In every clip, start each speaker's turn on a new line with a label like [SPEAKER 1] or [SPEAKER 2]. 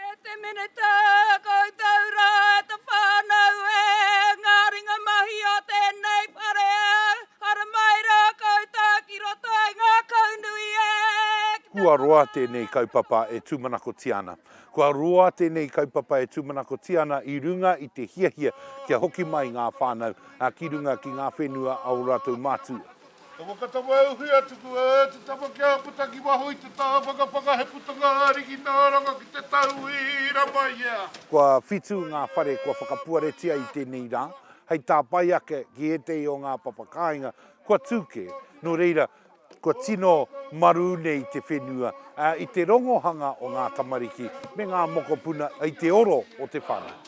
[SPEAKER 1] E te Minita, koutou rā, e te whānau, e ngā ringa mahi o tēnei wharea, haere mai rā koutou ki roto i ngākaunui e, ki te. Kua
[SPEAKER 2] roa tēnei kaupapa e tūmanakotia ana. Kua roa tēnei kaupapa e tūmanakotia ana i runga i te hiahia kia hoki mai ngā whānau ki runga ki ngā whenua a ō rātou mātua. Ka whakatama e
[SPEAKER 3] Uwhia tuku e te tama ki a puta ki waho i te taha whakapapa he putanga ariki nāranga ki te tauira mai ia. Kua whitu
[SPEAKER 2] ngā whare kua whakapuaretia i tēnei rā, hei tāpae ake ki ētehi o ngā papa kāinga kua tū kē, nō reira, kua tino marū nei te whenua i te rongohanga o ngā tamariki me ngā mokopuna i te oro o te whare.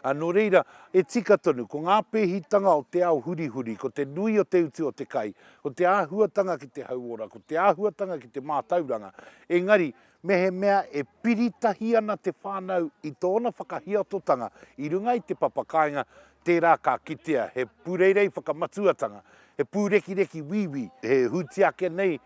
[SPEAKER 2] Ā, nō reira, e tika tonu, ko ngā pēhitanga o te ao hurihuri, ko te nui o te utu o te kai, ko te āhuatanga ki te hauora, ko te āhuatanga ki te mātauranga, engari, mehemea e piri tahi ana te whānau i tōna whakahiatotanga i runga i te papa kāinga, tērā ka kitea he pūreirei whakamatuatanga, he pūrekireki wīwī, he hūtiake nei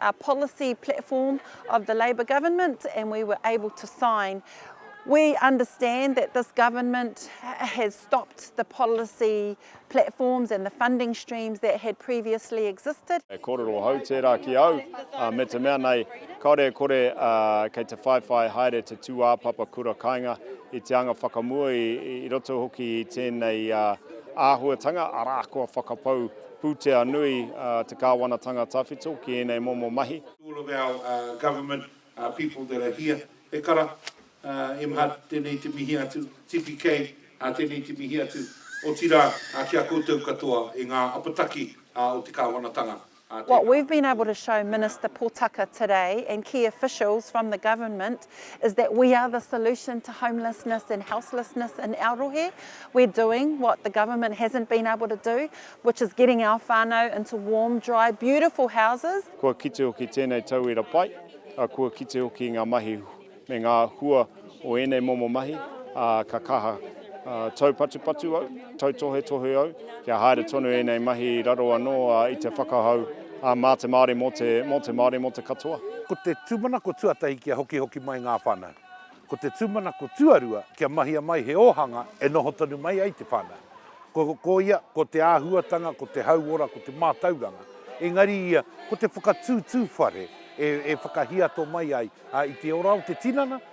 [SPEAKER 4] a policy platform of the Labour government and we were able to sign. We understand that this government has stopped the policy platforms and the funding streams that had previously existed. E kōrero hou tērā
[SPEAKER 5] ki au, ā, me te mea nei, kāore e kore, ā, kei te whaiwhai haere te tūāpapa kura kainga i te anga whakamua i, i roto hoki i tēnei, ā, āhuatanga, arā, kua whakapau Pūtea nui te Kāwanatanga Tawhito ki ēnei momo mahi. All of our
[SPEAKER 2] government people that are here, he kara, MHAT, tēnei te mihi atu, TPK, tēnei te mihi atu, otirā ki a koutou katoa i ngā apataki o te Kāwanatanga. Tēnā. What we've been
[SPEAKER 4] able to show Minister Potaka today and key officials from the government is that we are the solution to homelessness and houselessness in our rohe. We're doing what the government hasn't been able to do, which is getting our whānau into warm, dry, beautiful houses. Kua kite hoki
[SPEAKER 5] tēnei tauira pai, ā, kua kite hoki ngā mahi me ngā hua o ēnei momo mahi, ā, ka kaha. Taupatupatu au, tautohetohe au, kia haere tonu ēnei mahi i raro anō i te whakahau mā te Māori mō te, mō te Māori mō te katoa. Ko te tūmanako
[SPEAKER 2] tuatahi kia hokihoki mai ngā whānau. Ko te tūmanako tuarua kia mahia mai he ōhanga e noho tonu mai ai te whānau. Ko, ko ia, ko te āhuatanga, ko te hauora, ko te mātauranga, engari ia, ko te whakatūtū whare e, e whakahiato mai ai i te ora o te tinana,